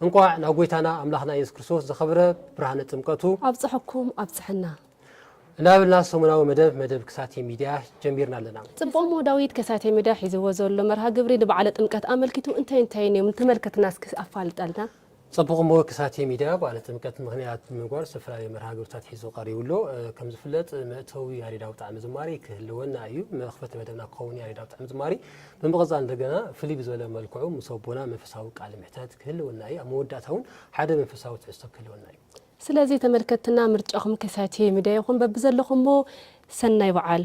እንቋዕ ናብ ጎይታና ኣምላኽና ኢየሱስ ክርስቶስ ዝኸብረ ብርሃነ ጥምቀቱ። ኣብጸሐኩም ኣብጸሐና። እናበልና ሰሙናዊ መደብ መደብ ክሳቴ ሚድያ ጀሚርና ኣለና። ጽቡቕ እሞ ዳዊት ከሳቴ ሚድያ ሒዝዎ ዘሎ መርሃ ግብሪ ንበዓለ ጥምቀት ኣመልኪቱ እንታይ እንታይን እዮም ንተመልከትና እስኪ ኣፋልጠልና። ጽቡቕ እሞ ክሳቴ ሚድያ በዓለ ጥምቀት ምኽንያት ብምግባር ዝተፈላለዩ መርሃ ግብርታት ሒዙ ቀሪቡ ኣሎ። ከም ዝፍለጥ መእተዊ ያሬዳዊ ጣዕመ ዝማሬ ክህልወና እዩ። መኽፈቲ መደብና ክኸውን ያሬዳዊ ጣዕመ ዝማሬ ብምቕጻል እንደገና ፍልይ ብዝበለ መልክዑ ምስ ኣቦና መንፈሳዊ ቃለ ምሕተት ክህልወና እዩ። ኣብ መወዳእታ እውን ሓደ መንፈሳዊ ትሕዝቶ ክህልወና እዩ። ስለዚ ተመልከትትና ምርጫኹም ከሳቴ ሚድያ ይኹን በብዘለኹሞ ሰናይ በዓል።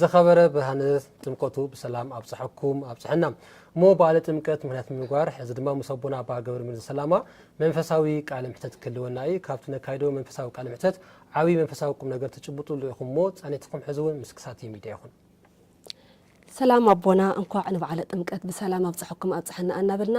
ዝኸበረ ብርሃነ ጥምቀቱ ብሰላም ኣብፀሐኩም ኣብፀሐና። እሞ በዓለ ጥምቀት ምክንያት ብምግባር ሕዚ ድማ ምስ ኣቦና ኣባ ገብረሚል ዘሰላማ መንፈሳዊ ቃለ ምሕተት ክህልወና እዩ። ካብቲ ነካይዶ መንፈሳዊ ቃለ ምሕተት ዓብዪ መንፈሳዊ ቁም ነገር ትጭብጡሉ ኢኹም እሞ ፃኒትኩም ሕዚ እውን ምስ ክሳቲ ሚድያ ይኹን። ሰላም ኣቦና እንኳዕ ንበዓለ ጥምቀት ብሰላም ኣብፀሐኩም ኣብፀሐና ኣናበልና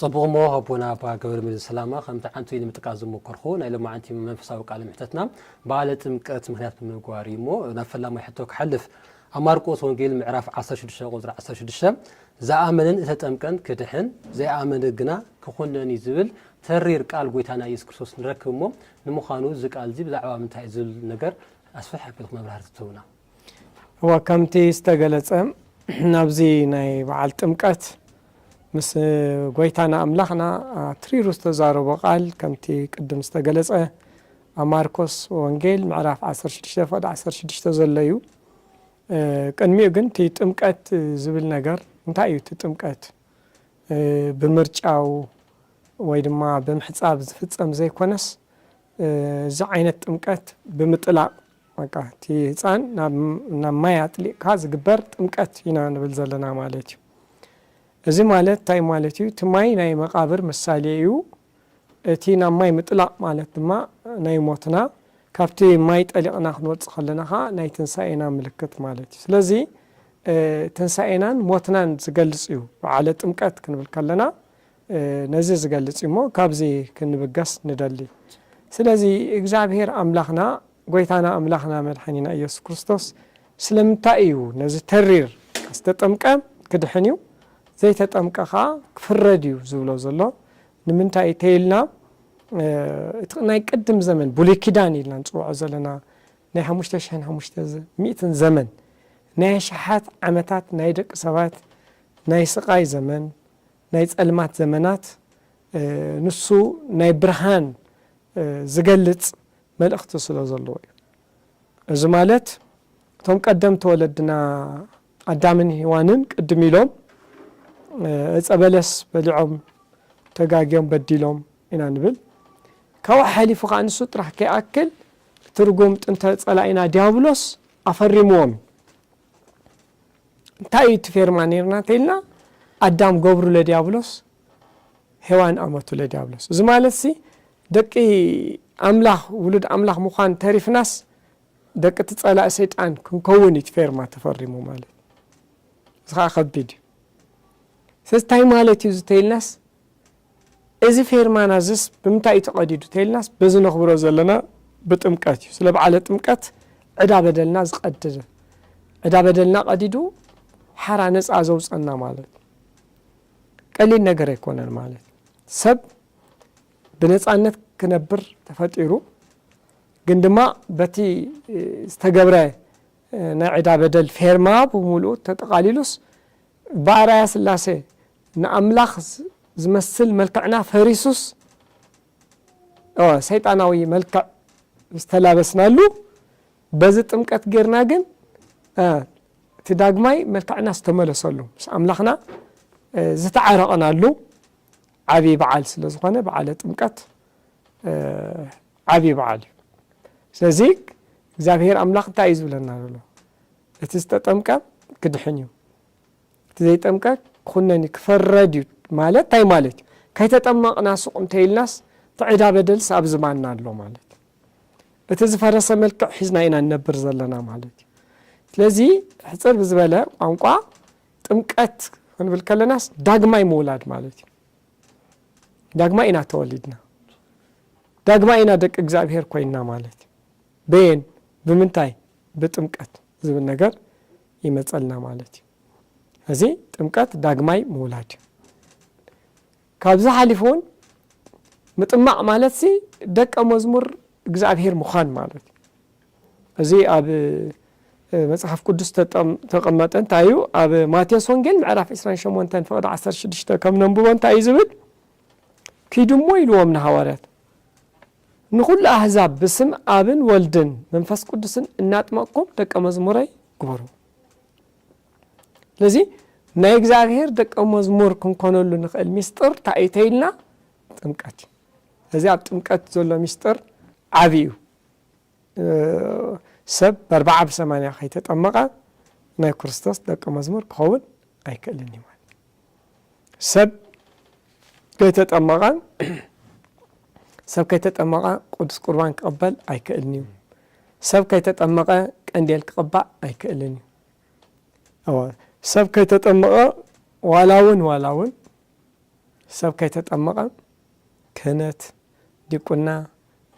ጽቡቕ እሞ ኣቦና ኣባ ገብረመድህን ሰላማ ከም ትዓንቱ ንምጥቃስ ዝሞከርኩ ናይ ሎማዓንቲ መንፈሳዊ ቃለ ምሕተትና በዓለ ጥምቀት ምክንያት ብምግባር እዩ እሞ ናብ ፈላማይ ሕቶ ክሓልፍ ኣብ ማርቆስ ወንጌል ምዕራፍ 16 ቁጽሪ 16 ዝኣመነን እተጠምቀን ክድሕን ዘይኣመነ ግና ክኹነን እዩ ዝብል ተሪር ቃል ጎይታና ኢየሱስ ክርስቶስ ንረክብ እሞ ንምዃኑ እዚ ቃል እዚ ብዛዕባ ምንታይ እዩ ዝብል ነገር ኣስፍሕ ኣቢልኩም መብራህርቲ ትህቡና እወ ከምቲ ዝተገለጸ ናብዚ ናይ በዓል ጥምቀት ምስ ጎይታና ኣምላኽና ኣትሪሩ ዝተዛረቦ ቃል ከምቲ ቅድም ዝተገለጸ ኣብ ማርኮስ ወንጌል ምዕራፍ 16 ፈቅዲ 16 ዘሎ እዩ ቅድሚኡ ግን እቲ ጥምቀት ዝብል ነገር እንታይ እዩ እቲ ጥምቀት ብምርጫው ወይ ድማ ብምሕፃብ ዝፍፀም ዘይኮነስ እዚ ዓይነት ጥምቀት ብምጥላቕ በቃ እቲ ህጻን ናብ ናብ ማይ ኣጥሊቅካ ዝግበር ጥምቀት ኢና ንብል ዘለና ማለት እዩ። እዚ ማለት እንታይ ማለት እዩ እቲ ማይ ናይ መቃብር ምሳሌ እዩ እቲ ናብ ማይ ምጥላቅ ማለት ድማ ናይ ሞትና ካብቲ ማይ ጠሊቅና ክንወጽእ ከለና ከኣ ናይ ትንሳኤና ምልክት ማለት እዩ ስለዚ ትንሳኤናን ሞትናን ዝገልጽ እዩ በዓለ ጥምቀት ክንብል ከለና ነዚ ዝገልጽ እዩ እሞ ካብዚ ክንብገስ ንደሊ። ስለዚ እግዚኣብሄር ኣምላኽና ጎይታና ኣምላኽና መድሓኒና ኢየሱስ ክርስቶስ ስለምንታይ እዩ ነዚ ተሪር ዝተጠምቀ ክድሕን እዩ ዘይተጠምቀ ከኣ ክፍረድ እዩ ዝብሎ ዘሎ ንምንታይ ተይልና እቲ ናይ ቅድም ዘመን ብሉይ ኪዳን ኢልና ንጽውዖ ዘለና ናይ ሓሙሽተ ሽሕን ሓሙሽተ ሚእትን ዘመን ናይ ኣሽሓት ዓመታት ናይ ደቂ ሰባት ናይ ስቓይ ዘመን ናይ ጸልማት ዘመናት ንሱ ናይ ብርሃን ዝገልጽ መልእኽቲ ስለ ዘለዎ እዩ። እዚ ማለት እቶም ቀደምቲ ወለድና ኣዳምን ሂዋንን ቅድም ኢሎም እጸ በለስ በሊዖም ተጋግዮም በዲሎም ኢና ንብል ካብኡ ሓሊፉ ከኣ ንሱ ጥራሕ ከይኣክል ትርጉም ጥንተ ጸላኢና ዲያብሎስ ኣፈሪምዎም እዩ። እንታይ እዩ እቲ ፌርማ ኔርና ተይልና ኣዳም ገብሩ ለዲያብሎስ ሄዋን ኣመቱ ለዲያብሎስ እዚ ማለት ሲ ደቂ ኣምላኽ ውሉድ ኣምላኽ ምዃን ተሪፍናስ ደቂ እቲ ጸላእ ሰይጣን ክንከውን እዩ ፌርማ ተፈሪሙ ማለት እዚ ከዓ ከቢድ እዩ ስለዚ እንታይ ማለት እዩ ዝተይልናስ እዚ ፌርማና እዝስ ብምንታይ እዩ ተቐዲዱ ተይልናስ በዚ ነኽብሮ ዘለና ብጥምቀት እዩ። ስለ በዓለ ጥምቀት ዕዳ በደልና ዝቐድድ ዕዳ በደልና ቀዲዱ ሓራ ነፃ ዘውፀና ማለት እዩ። ቀሊል ነገር ኣይኮነን ማለት እዩ። ሰብ ብነፃነት ክነብር ተፈጢሩ ግን ድማ በቲ ዝተገብረ ናይ ዕዳ በደል ፌርማ ብምሉኡ ተጠቓሊሉስ ብኣርኣያ ስላሴ ንኣምላኽ ዝመስል መልክዕና ፈሪሱስ እወ ሰይጣናዊ መልክዕ ዝተላበስናሉ በዚ ጥምቀት ጌርና ግን እቲ ዳግማይ መልክዕና ዝተመለሰሉ ምስ ኣምላኽና ዝተዓረቕናሉ ዓብዪ በዓል ስለ ዝኾነ በዓለ ጥምቀት ዓብዪ በዓል እዩ ስለዚ እግዚኣብሔር ኣምላኽ እንታይ እዩ ዝብለና ዘሎ እቲ ዝተጠምቀ ክድሕን እዩ እቲ ዘይጠምቀ ክኹነን እዩ ክፍረድ እዩ ማለት ታይ ማለት እዩ ከይተጠመቅና ሱቅ እንተኢልናስ እቲ ዕዳ በደልስ ኣብ ዝባንና ኣሎ ማለት እዩ እቲ ዝፈረሰ መልክዕ ሒዝና ኢና ንነብር ዘለና ማለት እዩ ስለዚ ሕፅር ብዝበለ ቋንቋ ጥምቀት ክንብል ከለናስ ዳግማይ ምውላድ ማለት እዩ ዳግማይ ኢና ተወሊድና ዳግማይ ኢና ደቂ እግዚኣብሔር ኮይንና ማለት እዩ በየን ብምንታይ ብጥምቀት ዝብል ነገር ይመጸልና ማለት እዩ። እዚ ጥምቀት ዳግማይ ምውላድ እዩ። ካብዚ ሓሊፉ እውን ምጥማቕ ማለት ሲ ደቀ መዝሙር እግዚኣብሄር ምዃን ማለት እዩ። እዚ ኣብ መጽሓፍ ቅዱስ ተቐመጠ እንታይ እዩ ኣብ ማቴዎስ ወንጌል ምዕራፍ 28 ፍቕዲ 16 ከም ነንብቦ እንታይ እዩ ዝብል ኪዱ እሞ ኢልዎም ንሃዋርያት ንዅሉ ኣህዛብ ብስም ኣብን ወልድን መንፈስ ቅዱስን እናጥመቕኩም ደቀ መዝሙረይ ግበሩ። ስለዚ ናይ እግዚኣብሔር ደቀ መዝሙር ክንኮነሉ ንኽእል ሚስጥር እንታይ እዩ ተይልና ጥምቀት እዩ። እዚ ኣብ ጥምቀት ዘሎ ሚስጥር ዓብዪ እዩ። ሰብ በርብዓ ብሰማንያ ከይተጠመቐ ናይ ክርስቶስ ደቀ መዝሙር ክኸውን ኣይክእልን እዩ ማለት ሰብ ከይተጠመቐ ሰብ ከይተጠመቐ ቅዱስ ቁርባን ክቕበል ኣይክእልን እዩ ሰብ ከይተጠመቐ ቀንዴል ክቕባእ ኣይክእልን እዩ ሰብ ከይተጠመቐ ዋላ እውን ዋላ እውን ሰብ ከይተጠመቐ ክህነት ዲቁና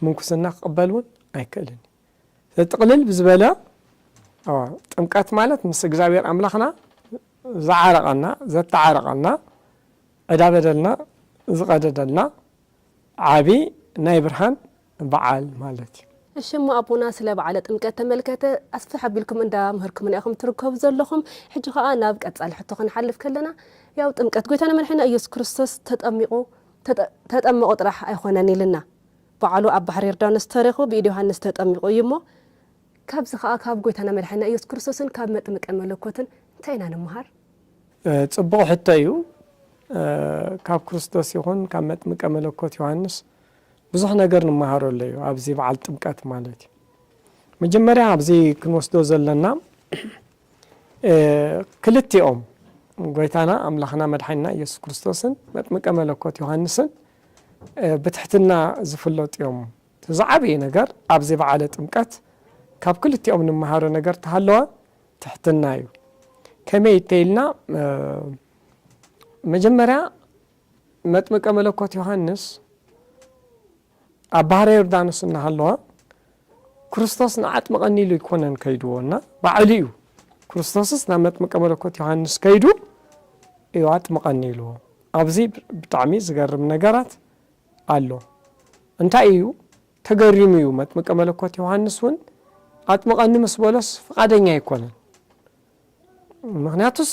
ምንኩስና ክቕበል እውን ኣይክእልን እዩ። ስለዚ ጥቕልል ብዝበለ ጥምቀት ማለት ምስ እግዚኣብሔር ኣምላኽና ዝዓረቐና፣ ዘተዓረቐና፣ ዕዳ በደልና ዝቐደደልና ዓቢ ናይ ብርሃን በዓል ማለት እዩ። እሺ እሞ ኣቦና ስለ በዓለ ጥምቀት ተመልከተ ኣስፍሕ ኣቢልኩም እንዳ ምህርኩምና ኢኹም ትርከቡ ዘለኹም ሕጂ ከኣ ናብ ቀጻሊ ሕቶ ክንሓልፍ ከለና ያው ጥምቀት ጎይታና መድሕኒና ኢየሱስ ክርስቶስ ተጠሚቑ ተጠመቑ ጥራሕ ኣይኮነን ኢልና ባዕሉ ኣብ ባሕሪ ዮርዳኖስ ተረኹ ብኢድ ዮሃንስ ተጠሚቑ እዩ እሞ ካብዚ ከኣ ካብ ጎይታና መድሓኒና ኢየሱስ ክርስቶስን ካብ መጥምቀ መለኮትን እንታይ ኢና ንመሃር? ጽቡቕ ሕቶ እዩ ካብ ክርስቶስ ይኹን ካብ መጥምቀ መለኮት ዮሃንስ ብዙሕ ነገር ንመሃሮ ኣለዩ ኣብዚ በዓል ጥምቀት ማለት እዩ መጀመርያ ኣብዚ ክንወስዶ ዘለና ክልቲኦም ጎይታና ኣምላኽና መድሓኒና ኢየሱስ ክርስቶስን መጥምቀ መለኮት ዮሃንስን ብትሕትና ዝፍለጡ እዮም። እቲ ዝዓበየ ነገር ኣብዚ በዓለ ጥምቀት ካብ ክልቲኦም ንመሃሮ ነገር ተሃለወ ትሕትና እዩ። ከመይ እተይልና መጀመርያ መጥምቀ መለኮት ዮሃንስ ኣብ ባሕረ ዮርዳኖስ እናሃለዋ ክርስቶስ ንዓጥምቐኒ ኢሉ ኣይኮነን ከይድዎ እና ባዕሉ እዩ ክርስቶስስ ናብ መጥምቀ መለኮት ዮሃንስ ከይዱ እዩ ኣጥምቐኒ ኢልዎ። ኣብዚ ብጣዕሚ ዝገርም ነገራት ኣሎ። እንታይ እዩ ተገሪሙ እዩ መጥምቀ መለኮት ዮሃንስ እውን ኣጥምቐኒ ምስ በሎስ ፍቓደኛ ኣይኮነን። ምኽንያቱስ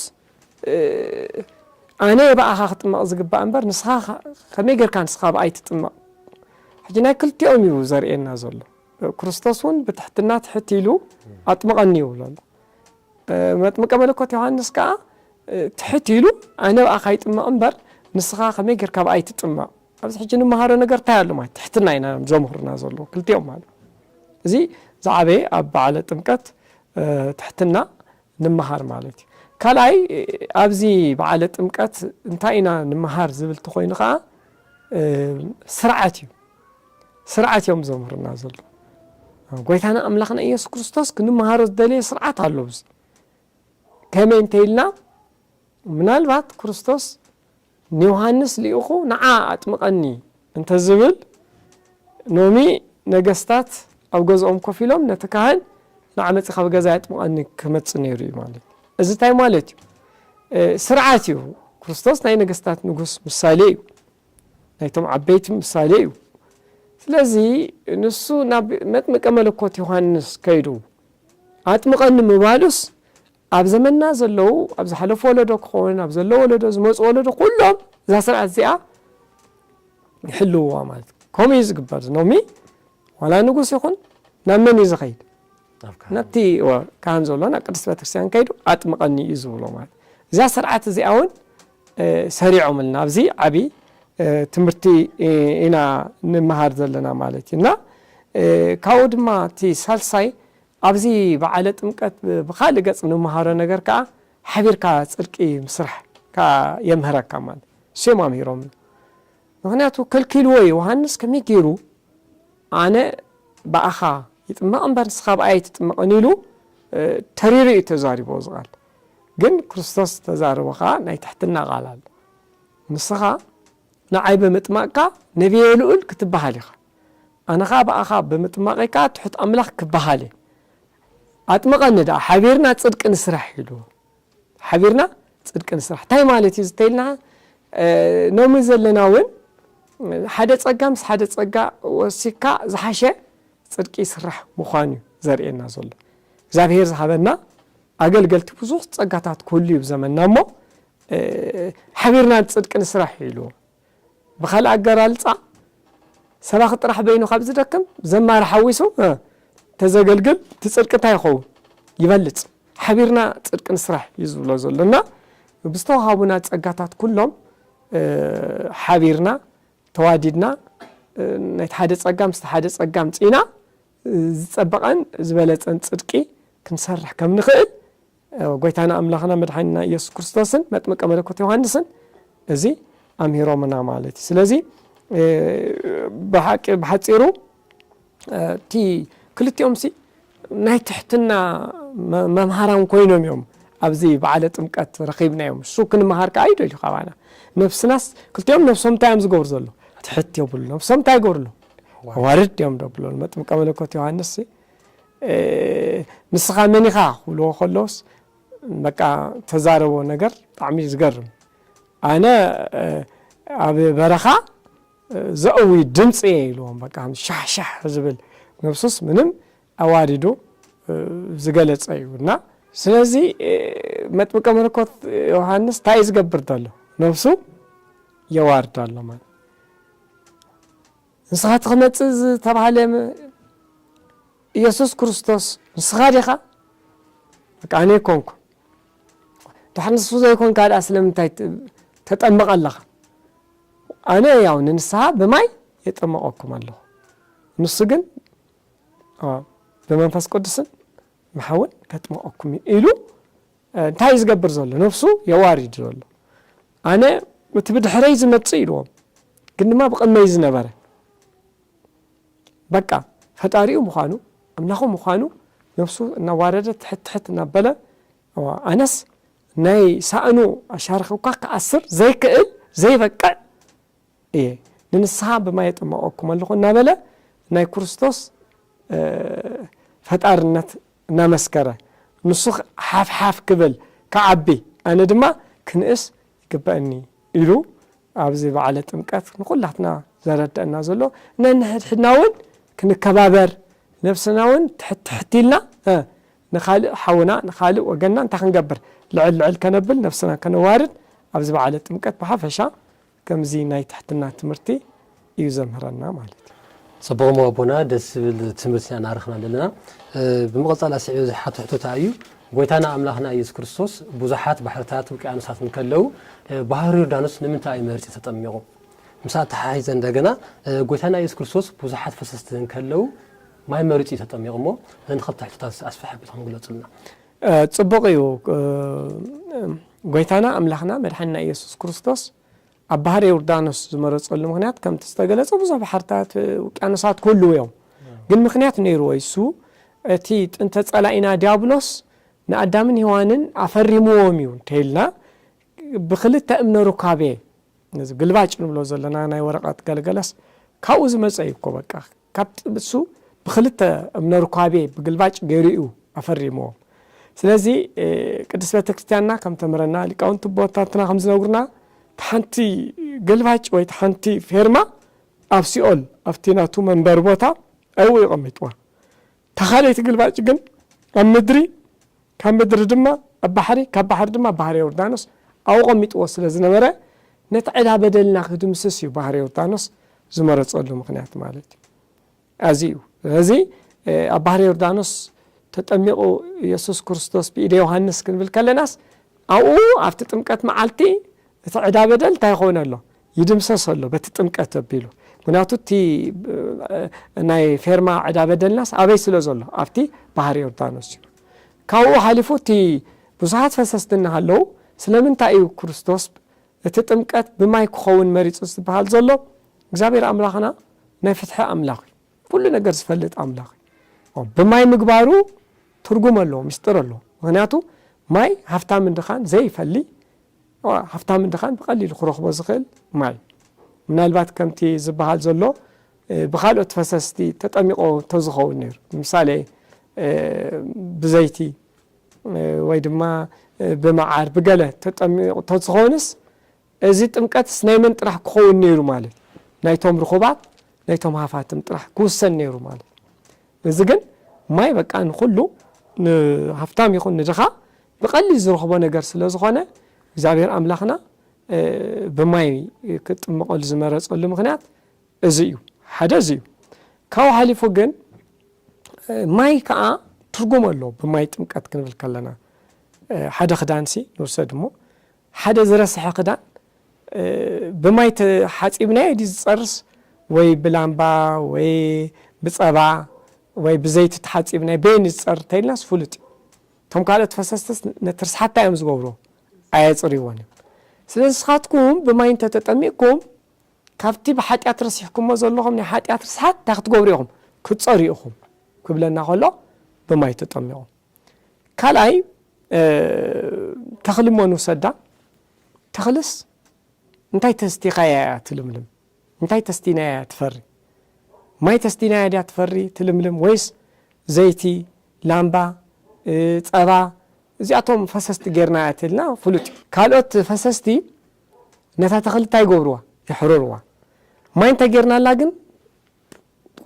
ኣነ እየ ብኣኻ ክጥመቕ ዝግባእ እምበር ንስኻ ከመይ ጌርካ ንስኻ ብኣይ ትጥመቕ ሕጂ ናይ ክልቲኦም እዩ ዘርእየና ዘሎ ክርስቶስ እውን ብትሕትና ትሕት ኢሉ ኣጥምቐኒ ይብሎ ኣሎ መጥምቀ መለኮት ዮሃንስ ከዓ ትሕት ኢሉ ኣነ ብኣኻ ይጥመቕ እምበር ንስኻ ከመይ ጌርካ ብኣይ ትጥመቕ ኣብዚ ሕጂ ንመሃሮ ነገር ታይ ኣሎ ማለት ትሕትና ኢና ዘምህሩና ዘለዉ ክልቲኦም ማለት እዚ ዝዓበየ ኣብ በዓለ ጥምቀት ትሕትና ንመሃር ማለት እዩ ካልኣይ ኣብዚ በዓለ ጥምቀት እንታይ ኢና ንመሃር ዝብል ተኮይኑ ከዓ ስርዓት እዩ ስርዓት እዮም ዘምህሩና ዘሎ ጎይታና ኣምላኽና ኢየሱስ ክርስቶስ ክንመሃሮ ዝደለየ ስርዓት ኣሎ ብዚ ከመይ እንተይልና ምናልባት ክርስቶስ ንዮሃንስ ልኢኹ ንዓ ኣጥምቐኒ እንተ ዝብል፣ ሎሚ ነገስታት ኣብ ገዝኦም ኮፍ ኢሎም ነቲ ካህን ንዓ መጺኻ ብገዛይ ኣጥምቐኒ ክመጽእ ነይሩ እዩ ማለት እዩ። እዚ እንታይ ማለት እዩ? ስርዓት እዩ። ክርስቶስ ናይ ነገስታት ንጉስ ምሳሌ እዩ። ናይቶም ዓበይቲ ምሳሌ እዩ። ስለዚ ንሱ ናብ መጥምቀ መለኮት ዮሃንስ ከይዱ ኣጥምቐኒ ምባሉስ ኣብ ዘመንና ዘለዉ ኣብ ዝሓለፉ ወለዶ ክኾን ኣብ ዘሎ ወለዶ ዝመፁ ወለዶ ኩሎም እዛ ስርዓት እዚኣ ይሕልውዋ ማለት እዩ ከምኡ እዩ ዝግበር ዝኖሚ ዋላ ንጉስ ይኹን ናብ መን እዩ ዝኸይድ ናብቲ ካህን ዘሎ ናብ ቅድስት ቤተክርስትያን ከይዱ ኣጥምቐኒ እዩ ዝብሎ ማለት እዛ ስርዓት እዚኣ እውን ሰሪዖምልና ኣብዚ ዓብዪ ትምህርቲ ኢና ንመሃር ዘለና ማለት እዩ እና ካብኡ ድማ እቲ ሳልሳይ ኣብዚ በዓለ ጥምቀት ብኻልእ ገፅ እንመሃሮ ነገር ከዓ ሓቢርካ ፅድቂ ምስራሕ ከዓ የምህረካ ማለት እዩ። እሱ እዮም ኣምሂሮምና። ምኽንያቱ ከልኪልዎ ዮሃንስ ከመይ ገይሩ ኣነ ብኣኻ ይጥመቕ እምበር ንስኻ ብኣይ ኣይትጥመቕን ኢሉ ተሪሩ እዩ ተዛሪቦ እዚ ቃል ግን ክርስቶስ ዝተዛረቦ ከዓ ናይ ትሕትና ቃል ኣሎ ንስኻ ንዓይ ብምጥማቅካ ነቢየ ልኡል ክትበሃል ኢኻ ኣነ ኸኣ ብኣኻ ብምጥማቐይ ከኣ ትሑት ኣምላኽ ክበሃል እየ። ኣጥምቐኒ ደኣ ሓቢርና ጽድቂ ንስራሕ ኢሉ። ሓቢርና ጽድቂ ንስራሕ እንታይ ማለት እዩ ዝተይልና ኖሚ ዘለና እውን ሓደ ጸጋ ምስ ሓደ ጸጋ ወሲካ ዝሓሸ ጽድቂ ይስራሕ ምዃኑ እዩ ዘርእየና ዘሎ እግዚኣብሄር ዝሃበና ኣገልገልቲ ብዙሕ ጸጋታት ክህሉ እዩ ዘመና እሞ ሓቢርና ጽድቂ ንስራሕ ኢሉ ብኻልእ ኣገላልፃ ሰባኺ ጥራሕ በይኑ ካብ ዝደክም ዘማሪ ሓዊሱ ተዘገልግል እቲ ፅድቂ እንታይ ይኸውን ይበልፅ ሓቢርና ፅድቂ ንስራሕ እዩ ዝብሎ ዘሎ እና ብዝተዋሃቡና ፀጋታት ኩሎም ሓቢርና ተዋዲድና ናይቲ ሓደ ጸጋ ምስቲ ሓደ ጸጋ ምጺና ዝጸበቐን ዝበለጸን ጽድቂ ክንሰርሕ ከም ንኽእል ጐይታና ኣምላኽና መድሓኒና ኢየሱስ ክርስቶስን መጥምቀ መለኮት ዮሃንስን እዚ ኣምሂሮምና ማለት እዩ ስለዚ ብሓቂ ብሓፂሩ እቲ ክልቲኦም ሲ ናይ ትሕትና መምሃራን ኮይኖም እዮም ኣብዚ በዓለ ጥምቀት ረኺብናዮም እሱ ክንምሃር ከዓ ይደልዩ ካባና ነብስናስ ክልቲኦም ነብሶም እንታይ እዮም ዝገብሩ ዘሎ ትሕት የብሉ ነብሶም እንታይ ይገብሩ ኣሎ ዋርድ እዮም ደብሎ መጥምቀ መለኮት ዮሃንስ ንስኻ መን ኢኻ ክብልዎ ከለውስ በቃ ተዛረቦ ነገር ብጣዕሚ እዩ ዝገርም ኣነ ኣብ በረኻ ዘእዊ ድምፂ እየ ኢልዎም በቃ ሻሕሻሕ ዝብል ነብሱስ ምንም ኣዋዲዱ ዝገለፀ እዩ እና ስለዚ መጥምቀ መለኮት ዮሃንስ እንታይ እዩ ዝገብር ዘሎ ነብሱ የዋርድ ኣሎ ማለት ንስኻ እቲ ክመጽእ ዝተባህለ ኢየሱስ ክርስቶስ ንስኻ ዲኻ? በቃ ኣነ ኣይኮንኩን። ድሕር ንሱ ዘይኮንካ ድኣ ስለምንታይ ተጠምቕ ኣለኻ? ኣነ ያው ንንስሓ ብማይ የጠመቐኩም ኣለኹ ንሱ ግን ብመንፈስ ቅዱስን መሓውን ከጥመቐኩም እዩ ኢሉ እንታይ እዩ ዝገብር ዘሎ ነብሱ የዋሪድ ዘሎ ኣነ እቲ ብድሕረይ ዝመጽእ ኢልዎም ግን ድማ ብቕድመይ ዝነበረ በቃ ፈጣሪኡ ምዃኑ ኣምላኹ ምዃኑ ነብሱ እናዋረደ ትሕት ትሕት እናበለ ኣነስ ናይ ሳእኑ ኣሻርኺ እኳ ክኣስር ዘይክእል ዘይበቅዕ እየ፣ ንንስሓ ብማይ የጥምቐኩም ኣለኹ እናበለ ናይ ክርስቶስ ፈጣርነት እናመስከረ፣ ንሱ ሓፍሓፍ ክብል፣ ክዓቢ፣ ኣነ ድማ ክንእስ ይግበእኒ ኢሉ ኣብዚ በዓለ ጥምቀት ንኹላትና ዘረደእና ዘሎ ነንሕድሕድና እውን ክንከባበር ነብስና እውን ትሕት ትሕት ኢልና ንካልእ ሓውና ንካልእ ወገንና እንታይ ክንገብር ልዕል ልዕል ከነብል ነብስና ከነዋርድ ኣብዚ በዓለ ጥምቀት ብሓፈሻ ከምዚ ናይ ትሕትና ትምህርቲ እዩ ዘምህረና ማለት እዩ። ፅቡቕ እሞ ኣቦና ደስ ዝብል ትምህርቲ ኢና እናረኽብና ዘለና። ብምቕፃል ኣስዒበ ዝሓቶ ሕቶታ እዩ ጎይታና ኣምላኽና ኢየሱስ ክርስቶስ ብዙሓት ባሕርታት ውቅያኖሳት እንከለው ባህር ዮርዳኖስ ንምንታይ እዩ መሪፁ ተጠሚቑ? ምስ ኣተሓሒዘ እንደገና ጎይታና ኢየሱስ ክርስቶስ ብዙሓት ፈሰስቲ እንከለው ማይ መሪፁ እዩ ተጠሚቑ እሞ እዘን ኸልተ ሕቶታት ኣስፍሕ ኣቢልኩም ግለፁልና። ጽቡቕ እዩ ጎይታና ኣምላኽና መድሓኒና ኢየሱስ ክርስቶስ ኣብ ባህሪ ዮርዳኖስ ዝመረጸሉ ምክንያት ከምቲ ዝተገለጸ ብዙሕ ባሕርታት ውቅያኖሳት ክህልው እዮም ግን ምክንያት ነይርዎ እሱ እቲ ጥንተ ጸላኢና ዲያብሎስ ንኣዳምን ሄዋንን ኣፈሪምዎም እዩ እንተይልና ብክልተ እምነ ሩካቤ እዚ ግልባጭ ንብሎ ዘለና ናይ ወረቐት ገልገለስ ካብኡ ዝመፀ እዩ እኮ በቃ ካብ ጥብሱ ብክልተ እምነ ርኳቤ ብግልባጭ ገይሩ እዩ ኣፈሪምዎም ስለዚ ቅድስት ቤተክርስትያንና ከም ተምህረና ሊቃውንቲ ኣቦታትና ከም ዝነግሩና ሓንቲ ገልባጭ ወይ ሓንቲ ፌርማ ኣብ ሲኦል ኣብቲ ናቱ መንበሪ ቦታ ዕው እዩ ቀሚጥዋ እታ ካልኣይቲ ግልባጭ ግን ኣብ ምድሪ፣ ካብ ምድሪ ድማ ኣብ ባሕሪ፣ ካብ ባሕሪ ድማ ኣብ ባሕሪ ዮርዳኖስ ኣውቐሚጥዎ ስለ ዝነበረ፣ ነቲ ዕዳ በደልና ክድምስስ እዩ ባሕሪ ዮርዳኖስ ዝመረጸሉ ምኽንያት ማለት እዩ። ኣዚ እዩ። ስለዚ ኣብ ባሕሪ ዮርዳኖስ ተጠሚቑ የሱስ ክርስቶስ ብኢደ ዮሃንስ ክንብል ከለናስ ኣብኡ ኣብቲ ጥምቀት መዓልቲ እቲ ዕዳ በደል እንታይ ይኸውን ኣሎ? ይድምሰስ ኣሎ በቲ ጥምቀት ኣቢሉ ምክንያቱ እቲ ናይ ፌርማ ዕዳ በደልናስ ኣበይ ስለ ዘሎ ኣብቲ ባህር ዮርዳኖስ እዩ ካብኡ ሓሊፉ እቲ ብዙሓት ፈሰስቲ እናሃለዉ ስለምንታይ እዩ ክርስቶስ እቲ ጥምቀት ብማይ ክኸውን መሪጹ ዝበሃል ዘሎ እግዚኣብሔር ኣምላኽና ናይ ፍትሒ ኣምላኽ እዩ ኩሉ ነገር ዝፈልጥ ኣምላኽ እዩ። ብማይ ምግባሩ ትርጉም ኣለዎ፣ ምስጢር ኣለዎ። ምክንያቱ ማይ ሃፍታምን ድኻን ዘይፈሊ ሃፍታምን ድኻን ብቐሊሉ ክረኽቦ ዝኽእል ማይ ምናልባት ከምቲ ዝበሃል ዘሎ ብካልኦት ፈሰስቲ ተጠሚቆ ተዝኸውን ነይሩ ንምሳሌ ብዘይቲ ወይ ድማ ብመዓር ብገለ ተጠሚቑ ተዝኾንስ እዚ ጥምቀትስ ናይ መን ጥራሕ ክኸውን ነይሩ ማለት እዩ? ናይቶም ርኹባት ናይቶም ሃፋትም ጥራሕ ክውሰን ነይሩ ማለት እዩ። እዚ ግን ማይ በቃ ንኹሉ ንሃፍታም ይኹን ንድኻ ብቐሊል ዝረኽቦ ነገር ስለ ዝኾነ እግዚኣብሔር ኣምላኽና ብማይ ክጥመቐሉ ዝመረፀሉ ምኽንያት እዚ እዩ። ሓደ እዚ እዩ። ካብኡ ሓሊፉ ግን ማይ ከዓ ትርጉም ኣሎ ብማይ ጥምቀት ክንብል ከለና ሓደ ክዳንሲ ንውሰድ እሞ ሓደ ዝረሰሐ ክዳን ብማይ ተሓጺብናዮ ድዩ ዝጸርስ ወይ ብላምባ ወይ ብጸባ ወይ ብዘይቲ ተሓጺብናዮ በየን እዩ ዝጸር እንተኢልናስ ፍሉጥ እዩ። እቶም ካልኦት ፈሰስትስ ነቲ ርስሓት እንታይ እዮም ዝገብርዎ? ኣየጽርይዎን እዮም። ስለዚ ንስኻትኩም ብማይ እንተ ተጠሚቕኩም ካብቲ ብሓጢኣት ረሲሕኩሞ ዘለኹም ናይ ሓጢኣት ርስሓት እንታይ ክትገብሩ ኢኹም? ክትጸርዩ ኢኹም ክብለና ከሎ ብማይ ተጠሚቑም። ካልኣይ ተኽሊ እሞ ንውሰዳ፣ ተኽልስ እንታይ ተስቲኻያ እያ ትልምልም? እንታይ ተስቲናያ እያ ትፈሪ? ማይ ተስቲናያ ድያ ትፈሪ ትልምልም ወይስ ዘይቲ፣ ላምባ፣ ፀባ እዚኣቶም ፈሰስቲ ጌርና እትልና ፍሉጥ እዩ። ካልኦት ፈሰስቲ ነታ ተኽሊ እንታይ ይገብርዋ? የሕርርዋ። ማይ እንተጌርናላ ግን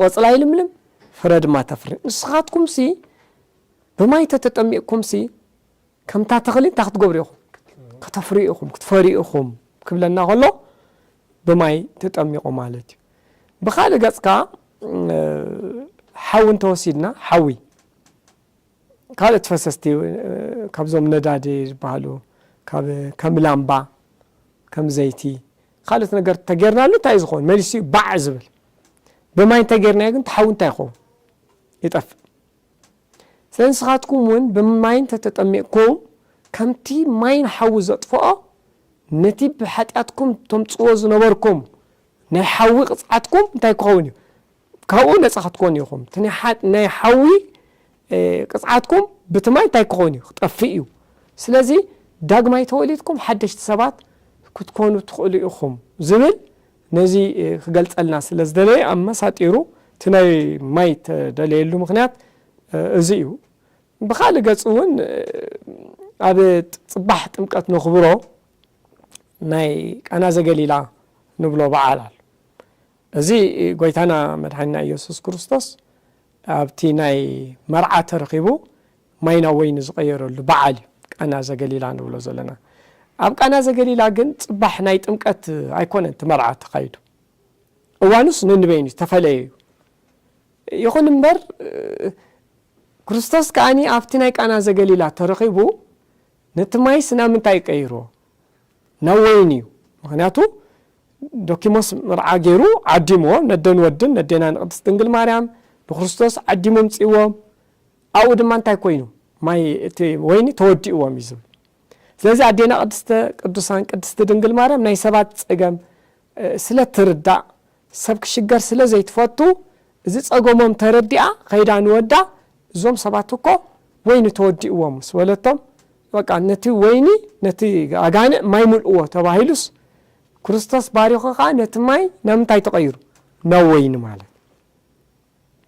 ቆጽላ ይልምልም ፍረ ድማ ተፍሪ። ንስኻትኩምሲ ብማይ ተተጠሚቕኩምሲ ከምታ ተኽሊ እንታይ ክትገብሩ ኢኹም? ከተፍርዩ ኢኹም፣ ክትፈርዩ ኢኹም ክብለና ከሎ ብማይ ተጠሚቑ ማለት እዩ። ብኻልእ ገጽ ከኣ ሓዊ እንተወሲድና ሓዊ ካልኦት ፈሰስቲ ካብዞም ነዳዲ ዝበሃሉ ካብ ከም ላምባ ከም ዘይቲ ኻልእት ነገር ተገርናሉ እንታይ እዩ ዝኸውን መሊሱ እዩ ባዕ ዝብል ብማይ እንተገርናዮ ግን ተሓዊ እንታይ ይኸውን ይጠፍእ ስለ ንስኻትኩም እውን ብማይ እንተተጠሚቕኩም ከምቲ ማይን ሓዊ ዘጥፍኦ ነቲ ብሓጢኣትኩም ተምፅዎ ዝነበርኩም ናይ ሓዊ ቅፅዓትኩም እንታይ ክኸውን እዩ ካብኡ ነጻ ክትኮኑ ኢኹም። እቲ ናይ ሓዊ ቅጽዓትኩም ብቲ ማይ እንታይ ክኾን እዩ? ክጠፍእ እዩ። ስለዚ ዳግማይ ተወሊድኩም ሓደሽቲ ሰባት ክትኮኑ ትኽእሉ ኢኹም ዝብል ነዚ ክገልጸልና ስለ ዝደለየ ኣመሳጢሩ እቲ ናይ ማይ ተደለየሉ ምክንያት እዚ እዩ። ብካልእ ገጽ እውን ኣብ ጽባሕ ጥምቀት ነኽብሮ ናይ ቃና ዘገሊላ ንብሎ በዓል ኣሎ። እዚ ጎይታና መድሓኒና እየሱስ ክርስቶስ ኣብቲ ናይ መርዓ ተረኺቡ ማይ ናብ ወይኒ ዝቐየረሉ በዓል እዩ ቃና ዘገሊላ ንብሎ ዘለና ኣብ ቃና ዘገሊላ ግን ጽባሕ ናይ ጥምቀት ኣይኮነን እቲ መርዓ ተኻይዱ እዋኑስ ንንበይኑ ዝተፈለየ እዩ ይኹን እምበር ክርስቶስ ከዓኒ ኣብቲ ናይ ቃና ዘገሊላ ተረኺቡ ነቲ ማይስ ናብ ምንታይ ቀይርዎ ናብ ወይን እዩ ምክንያቱ ዶኪሞስ ምርዓ ገይሩ ዓዲምዎ ነደን ወድን ነዴና ንቅድስት ድንግል ማርያም ንክርስቶስ ዓዲሙ ኣምጺዎም ኣብኡ ድማ እንታይ ኮይኑ ማይ እቲ ወይኒ ተወዲእዎም እዩ ዝብል ስለዚ ኣዴና ቅድስተ ቅዱሳን ቅድስቲ ድንግል ማርያም ናይ ሰባት ጸገም ስለ ትርዳእ ሰብ ክሽገር ስለ ዘይትፈቱ እዚ ጸገሞም ተረዲኣ ከይዳ ንወዳ እዞም ሰባት እኮ ወይኒ ተወዲእዎም ምስ በለቶም በቃ ነቲ ወይኒ ነቲ ኣጋንዕ ማይ ምልእዎ ተባሂሉስ ክርስቶስ ባሪኹ ከኣ ነቲ ማይ ናብ ምንታይ ተቐይሩ ናብ ወይኒ ማለት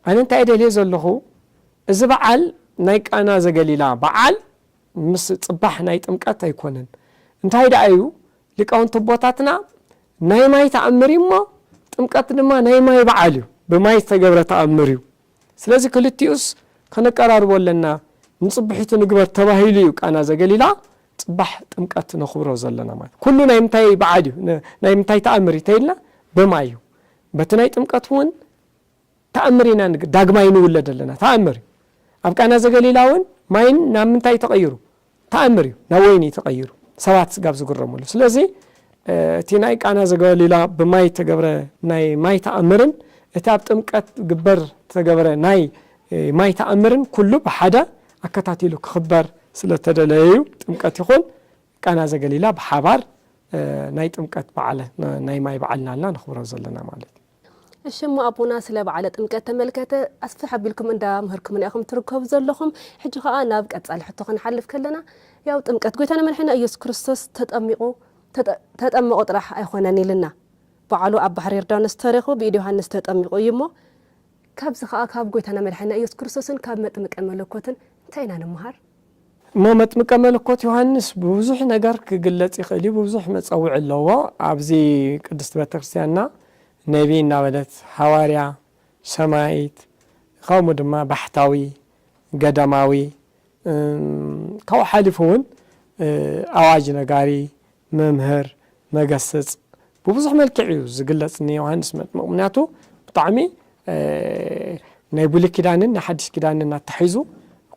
ኣነ እንታይ ደልየ ዘለኹ እዚ በዓል ናይ ቃና ዘገሊላ በዓል ምስ ጽባሕ ናይ ጥምቀት ኣይኮነን እንታይ ደኣ እዩ ሊቃውንቲ ኣቦታትና ናይ ማይ ተኣምር እዩ እሞ ጥምቀት ድማ ናይ ማይ በዓል እዩ ብማይ ዝተገብረ ተኣምር እዩ ስለዚ ክልቲኡስ ከነቀራርቦ ኣለና፣ ንጽብሒቱ ንግበር ተባሂሉ እዩ ቃና ዘገሊላ ጽባሕ ጥምቀት ነኹብሮ ዘለና ማለት እዩ። ኩሉ ናይ ምንታይ በዓል እዩ፣ ናይ ምንታይ ተኣምር እዩ ተይልና ብማይ እዩ። በቲ ናይ ጥምቀት እውን ተኣምር ኢና ዳግማይ ንውለድ ኣለና፣ ተኣምር እዩ። ኣብ ቃና ዘገሊላ እውን ማይን ናብ ምንታይ ተቐይሩ፣ ተኣምር እዩ ናብ ወይኒ ተቐይሩ ሰባት ስጋብ ዝግረምሉ። ስለዚ እቲ ናይ ቃና ዘገሊላ ብማይ እተገብረ ናይ ማይ ተኣምርን እቲ ኣብ ጥምቀት ግበር ዝተገብረ ናይ ማይ ተኣምርን ኩሉ ብሓደ ኣከታቲሉ ክኽበር ስለ እተደለየ እዩ። ጥምቀት ይኹን ቃና ዘገሊላ ብሓባር ናይ ጥምቀት በዓል ናይ ማይ በዓል እናበልና ነኽብሮ ዘለና ማለት እዩ። እሺ እሞ ኣቦና ስለ በዓለ ጥምቀት ተመልከተ ኣስፍሕ ኣቢልኩም እንዳ ምህርኩምና ኢኹም ትርከቡ ዘለኹም ሕጂ ከኣ ናብ ቀጻሊ ሕቶ ክንሓልፍ ከለና ያው ጥምቀት ጎይታና መድሕኒና ኢየሱስ ክርስቶስ ተጠሚቁ ተጠመቁ ጥራሕ ኣይኾነን ኢልና በዓሉ ኣብ ባሕሪ ዮርዳኖስ ተረኽቡ ብኢድ ዮሃንስ ተጠሚቁ እዩ እሞ ካብዚ ከኣ ካብ ጎይታና መድሕኒና ኢየሱስ ክርስቶስን ካብ መጥምቀ መለኮትን እንታይ ኢና ንመሃር? እሞ መጥምቀ መለኮት ዮሃንስ ብብዙሕ ነገር ክግለጽ ይኽእል እዩ፣ ብብዙሕ መጸውዒ ኣለዎ፣ ኣብዚ ቅድስት ቤተክርስትያንና ነቢይ እናበለት፣ ሓዋርያ፣ ሰማይት፣ ከምኡ ድማ ባሕታዊ፣ ገዳማዊ፣ ካብኡ ሓሊፉ እውን ኣዋጅ ነጋሪ፣ መምህር መገስጽ ብብዙሕ መልክዕ እዩ ዝግለጽ ንዮሃንስ መጥምቅ ምክንያቱ ብጣዕሚ ናይ ብሉይ ኪዳንን ናይ ሓድሽ ኪዳንን ኣታሒዙ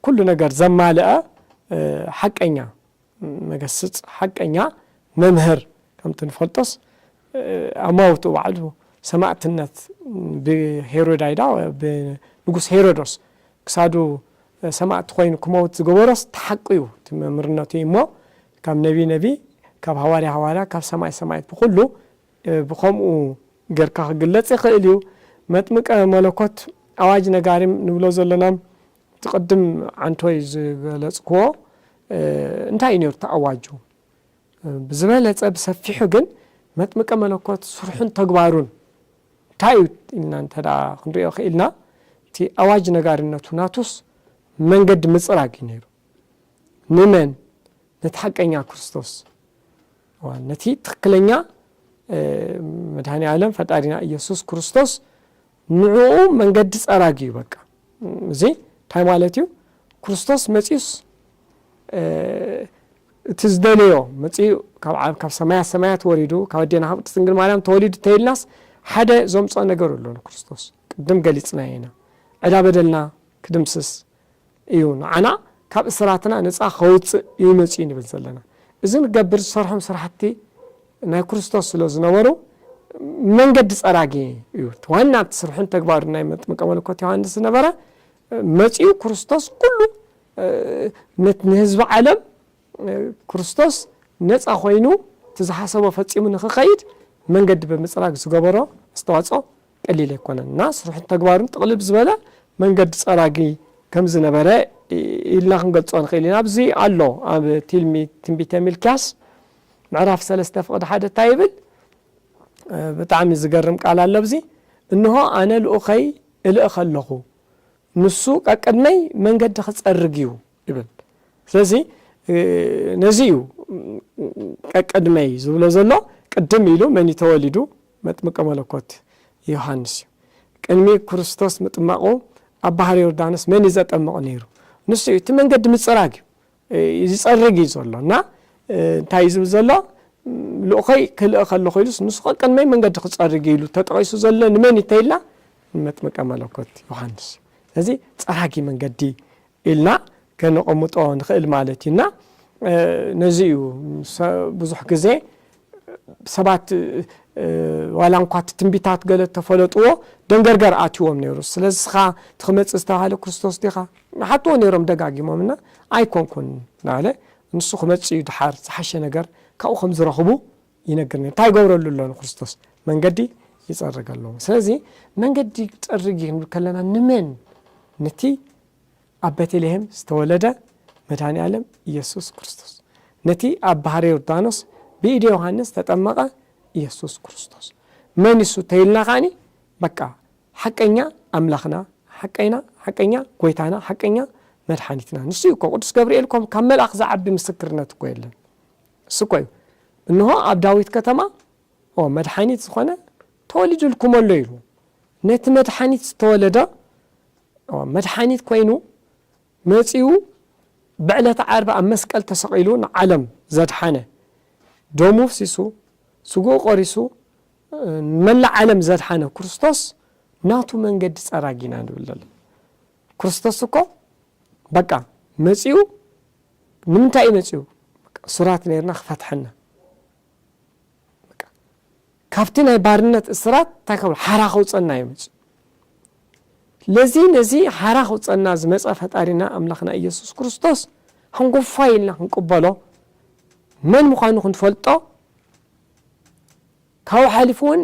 ኩሉ ነገር ዘማልአ ሓቀኛ መገስጽ ሓቀኛ መምህር ከምቲ ንፈልጦስ ኣማውትኡ ባዕሉ ሰማእትነት ብሄሮዳይዳ ብንጉስ ሄሮዶስ ክሳዱ ሰማእቲ ኮይኑ ክመውት ዝገበሮስ ተሓቂዩ እቲ መምርነቱ እዩ እሞ ካብ ነቢ ነቢ ካብ ሃዋርያ ሃዋርያ ካብ ሰማይ ሰማይት ብኹሉ ብኸምኡ ገርካ ክግለጽ ይኽእል እዩ መጥምቀ መለኮት ኣዋጅ ነጋሪም ንብሎ ዘሎናም እቲ ቅድም ዓንቶይ ዝገለጽክዎ እንታይ እዩ ነይሩ እቲ ኣዋጁ ብዝበለፀ ብሰፊሑ ግን መጥምቀ መለኮት ስርሑን ተግባሩን እንታይ እዩ ኢልና እንተ ክንሪኦ ክኢልና እቲ ኣዋጅ ነጋሪነቱ ናቱስ መንገዲ ምፅራግ እዩ ነይሩ ንመን ነቲ ሓቀኛ ክርስቶስ ነቲ ትክክለኛ መድሃኒ ዓለም ፈጣሪና ኢየሱስ ክርስቶስ ንዕኡ መንገዲ ጸራጊ እዩ በቃ እዚ እንታይ ማለት እዩ ክርስቶስ መጺኡስ እቲ ዝደለዮ መጺኡ ካብ ሰማያት ሰማያት ወሪዱ ካብ ኣዴና ካብ ቅድስት ድንግል ማርያም ተወሊዱ ተይልናስ ሓደ ዘምጾ ነገር ኣሎ ንክርስቶስ ቅድም ገሊጽናዮ ኢና ዕዳ በደልና ክድምስስ እዩ ንዓና ካብ እስራትና ነጻ ከውጽእ እዩ መጺኡ ንብል ዘለና። እዚ ንገብር ዝሰርሖም ስራሕቲ ናይ ክርስቶስ ስለ ዝነበሩ መንገዲ ጸራጊ እዩ። እቲ ዋና እቲ ስርሑን ተግባሩን ናይ መጥምቀ መለኮት ዮሃንስ ዝነበረ መጺኡ ክርስቶስ ኩሉ ንህዝቢ ዓለም ክርስቶስ ነጻ ኮይኑ እቲ ዝሓሰቦ ፈጺሙ ንክኸይድ መንገዲ ብምጽራግ ዝገበሮ ኣስተዋጽኦ ቀሊል ኣይኮነን እና ስርሑን ተግባሩን ጥቕልል ዝበለ መንገዲ ፀራጊ ከምዝነበረ ኢልና ክንገልፆ ንኽእል ኢና። ኣብዚ ኣሎ ኣብ ቲልሚ ትንቢተ ሚልኪያስ ምዕራፍ ሰለስተ ፍቕዲ ሓደ እንታይ ይብል? ብጣዕሚ ዝገርም ቃል ኣሎ ኣብዚ እንሆ ኣነ ልኡኸይ እልእኸ ኣለኹ ንሱ ቀቅድመይ መንገዲ ክፀርግ እዩ ይብል። ስለዚ ነዚ እዩ ቀቅድመይ ዝብሎ ዘሎ ቅድም ኢሉ መን እዩ ተወሊዱ መጥምቀ መለኮት ዮሃንስ እዩ። ቅድሚ ክርስቶስ ምጥማቑ ኣብ ባሕሪ ዮርዳኖስ መን እዩ ዘጠምቕ ነይሩ? ንሱ እዩ። እቲ መንገዲ ምጽራግ እዩ። ይጸርግ እዩ ዘሎ እና እንታይ እዩ ዝብል ዘሎ ልኡኸይ ክልእኽ ከለኹ ኢሉስ ንሱ ቀቅድመይ መንገዲ ክጸርግ እዩ ኢሉ ተጠቒሱ ዘሎ ንመን እዩ ተይልና ንመጥምቀ መለኮት ዮሃንስ እዩ። ስለዚ ጸራጊ መንገዲ ኢልና ከነቐምጦ ንኽእል ማለት እዩ እና ነዚ እዩ ብዙሕ ግዜ ሰባት ዋላ እንኳ እቲ ትንቢታት ገለ ተፈለጥዎ ደንገርገር ኣትዎም ነይሩ ስለዚ ስኻ ትክመፅእ ዝተባሃለ ክርስቶስ ዲኻ ንሓትዎ ነይሮም ደጋጊሞም እና ኣይኮንኩን ናለ ንሱ ክመፅ እዩ ድሓር ዝሓሸ ነገር ካብኡ ከም ዝረኽቡ ይነግር ነይሩ። እንታይ ይገብረሉ ኣሎ ንክርስቶስ? መንገዲ ይጸርገሎም። ስለዚ መንገዲ ይጸርግ እዩ ክንብል ከለና ንመን? ነቲ ኣብ ቤተልሔም ዝተወለደ መድኃኔ ዓለም ኢየሱስ ክርስቶስ፣ ነቲ ኣብ ባህረ ዮርዳኖስ ብኢደ ዮሐንስ ተጠመቐ ኢየሱስ ክርስቶስ መን እሱ ተይልና ከዓኒ በቃ ሓቀኛ ኣምላኽና ሓቀይና ሓቀኛ ጎይታና ሓቀኛ መድሓኒትና ንሱ እኮ ቅዱስ ገብርኤል ኮም ካብ መልኣኽ ዝዓቢ ምስክርነት እኮ የለን። እሱ እኮ እዩ እንሆ ኣብ ዳዊት ከተማ እሆ መድሓኒት ዝኾነ ተወሊዱልኩም ኣሎ ኢሉ ነቲ መድሓኒት ዝተወለደ እሆ መድሓኒት ኮይኑ መጺኡ ብዕለተ ዓርቢ ኣብ መስቀል ተሰቒሉ ንዓለም ዘድሓነ ደሙ ኣፍሲሱ ስግኡ ቆሪሱ ንመላእ ዓለም ዘድሓነ ክርስቶስ ናቱ መንገዲ ጸራጊና ንብል ዘለና ክርስቶስ እኮ በቃ መጺኡ ንምንታይ እዩ መጺኡ በቃ እሱራት ኔርና ክፈትሐና በቃ ካብቲ ናይ ባርነት እስራት እንታይ ከብሎ ሓራ ከውጸና እዩ መጺኡ ለዚ ነዚ ሓራ ከውጸና ዝመጸ ፈጣሪና ኣምላኽና ኢየሱስ ክርስቶስ ሓንጎፋይ ኢልና ክንቅበሎ መን ምዃኑ ክንፈልጦ ካብኡ ሓሊፉ ውን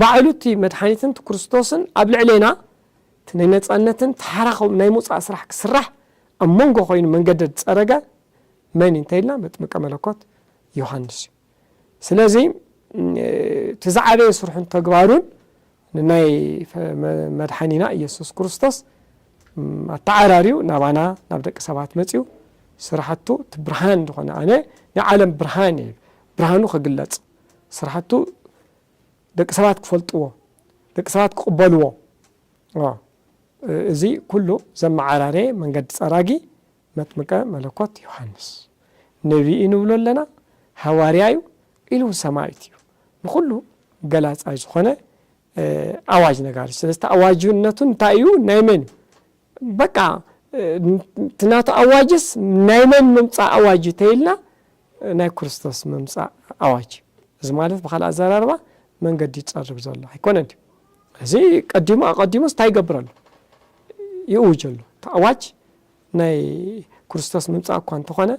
ባዕሉ እቲ መድሓኒትን እቲ ክርስቶስን ኣብ ልዕሌና እቲ ናይ ነፃነትን ተሓራኸም ናይ ምውፃእ ስራሕ ክስራሕ ኣብ መንጎ ኮይኑ መንገደ ዝፀረገ መን እዩ እንተይልና መጥምቀ መለኮት ዮሃንስ እዩ። ስለዚ እቲ ዝዓበየ ስርሑን ተግባሩን ንናይ መድሓኒና ኢየሱስ ክርስቶስ ኣተዓራርዩ ናባና ናብ ደቂ ሰባት መፅዩ ስራሕቱ እቲ ብርሃን ዝኾነ ኣነ ናይ ዓለም ብርሃን እየ ብርሃኑ ክግለፅ ስራሕቱ ደቂ ሰባት ክፈልጥዎ፣ ደቂ ሰባት ክቕበልዎ፣ እዚ ኩሉ ዘመዓራረየ መንገዲ ጸራጊ መጥምቀ መለኮት ዮሃንስ ነቢ እዩ ንብሎ ኣለና፣ ሃዋርያ እዩ፣ ኢሉ እውን ሰማይት እዩ። ንኹሉ ገላጻይ ዝኾነ ኣዋጅ ነጋሪ ስለዝተ ኣዋጅነቱ እንታይ እዩ ናይ መን እዩ በቃ እቲ ናቱ ኣዋጅስ ናይ መን ምምጻእ ኣዋጅ እዩ ተይልና ናይ ክርስቶስ ምምጻእ ኣዋጅ እዩ እዚ ማለት ብካልእ ኣዘራርባ መንገዲ ይጸርግ ዘሎ ኣይኮነን እዩ እዚ ቀዲሙ ኣቐዲሙ እንታይ ይገብር ኣሎ ይእውጅ ኣሎ እቲ ኣዋጅ ናይ ክርስቶስ ምምፃእ እኳ እንተኾነ